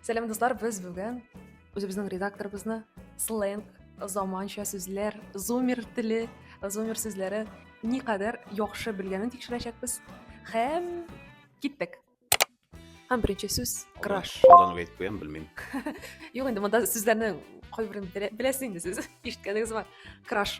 сәлем дуслар без бүген үзебезнең редакторыбызны сленг заманча сүзләр зумер теле зумер сүзләре никадәр яхшы белгәнен тикшерәчәкбез һәм киттек һәм беренче сүз краш алдан ук әйтеп куям белмим юк инде монда сүзләрнең кайберен беләсез инде сез ишеткәнегез бар краш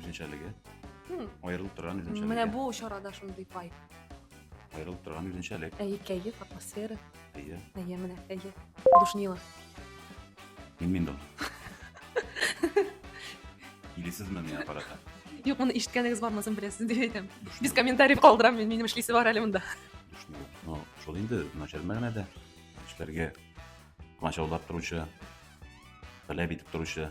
Үзенчәлеге. Хм. Аерылып торган үзенчәлеге. Менә бу чарада шундый пай. Аерылып торган үзенчәлек. Әйе, кәеф, атмосфера. Әйе. Әйе, менә, әйе. Душнила. Мин мин дә. Килесезме мин аппаратка? Юк, моны ишеткәнегез бармасын беләсез дип әйтәм. Без комментарий калдырам, мин минем эшлисе бар әле монда. Душнила. Ну, шул инде начар мәгънәдә. Эшләргә комачаулап торучы, таләп итеп торучы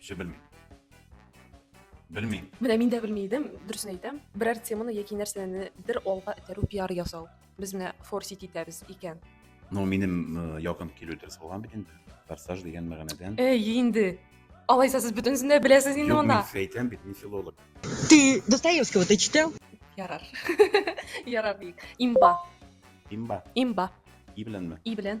Еще белмим. Белмим. Менә мин дә белми идем, дөресен әйтәм. Берәр теманы яки нәрсәне бер алга этәрү, пиар ясау. Без менә форсить итәбез икән. Ну, минем э, якын килү дөрес булган бит инде. Форсаж дигән мәгънәдән. Эй, инде. Алайса сез бөтенесен дә беләсез инде Юк, монда. мин әйтәм бит, мин филолог. Ты Достоевского ты читал? Ярар. Ярар бик. Имба. Имба. Имба. И беләнме? И белән.